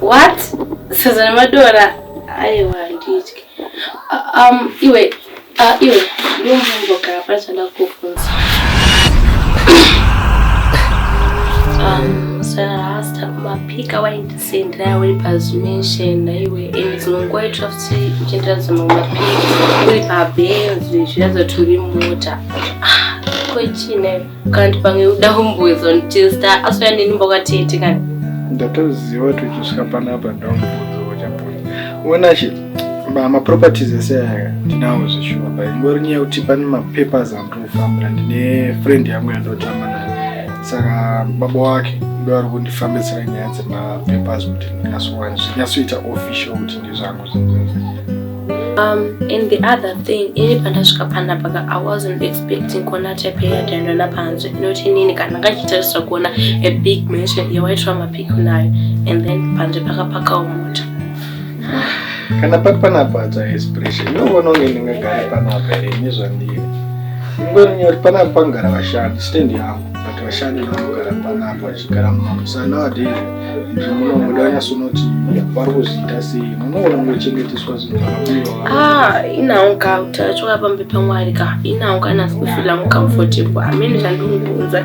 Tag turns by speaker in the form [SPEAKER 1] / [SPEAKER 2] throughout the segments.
[SPEAKER 1] What? Sadza nemadora aiwa handitye. Um, iwe, uh, iwe, ndombomboka pachada kufunza. Um, so last time, mapika wainda sendera uri pazumension naiwe and dzimwe nguva itira futi uchiendera dzimwe mapiri uri pabenzi zviratidza kuti uri mota ah, ko chine kanti pamwe uda kumboedza nditesta asuya neni mbakatete kani ndatoziva kuti uchisvika panapa ndaumbozo wachapoi uonachi maproperties ese aya ndinawo zveshuwa bai ingori nyaya yekuti pane mapapers andinofambira ndine friend yangu yandotamba nayo saka baba wake ndo ari kundifambisira nyaya dzemapapers kuti ndinyasowana zvinyatsoita official kuti ndizvangu zvinzenza Um, and the other thing ini pandasvika panapa ka i wasn't expecting kuona type yatandona panzwe inoti inini kana ndakachitarisa kuona a big mansion yewaitwa mapiko nayo and then panzwe pakapakawo mota kana pati panapa dza expression ndovona unge ndingagare panapa here ine zvandiri ingorinyori panapa pangara vashandi stand yangu but vashandi vanogara panapa vachigara mumamusa nowadays izvo munomuda vanyasunoti vari kuzviita sei munoona mochengeteswa zvinhu ah, inawo ka utachiwa pambe pamwari ka inawo kana sikufila mucomfortable amene zvandikungonza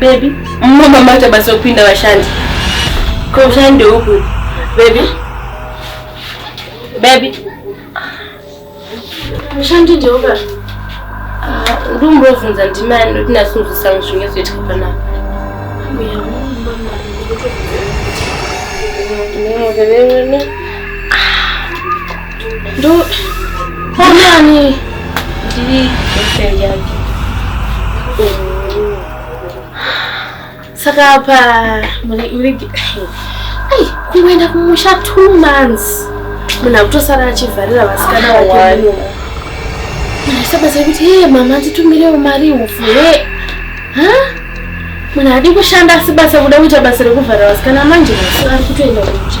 [SPEAKER 1] Baby, mama mama tabasa kupinda vashandi. Kwa ushandi huku. Baby. Baby. Ushandi ndio huku. Ah, ndumbo vunza ndimani noti nasunzisa mushinge zvetu kana. Mbuya mama. Ndio ndio. Ndo ndiani? Ndiri girlfriend yake. Saka apa muri muri ai kungoenda kumusha two months munhu akutosara achivharira vasikana vake sabatsira kuti he mama nditumirewo mari upfu he munhu adi kushanda asi basa kuda kuita basa rekuvhara vasikana manje masi ari kutoenda kumusha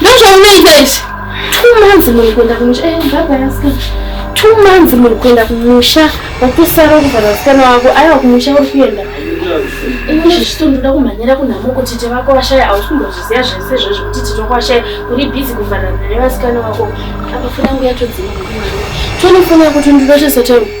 [SPEAKER 1] ndozvaunoita izvi two months muri kuenda kumusha eh, baba yasikana two months muri kuenda kumusha wakusara kuvhara vasikana wako aiwa kumusha uri kuenda ini zvichito ndoda kumhanyira kunhamo kuti tete vako vashaya hausi kumbozviziva zvese izvozvo kuti tete wako vashaya uri bhizi kuvharana nevasikana vako apa fona nguya todzima tone fona yako tondinochesatema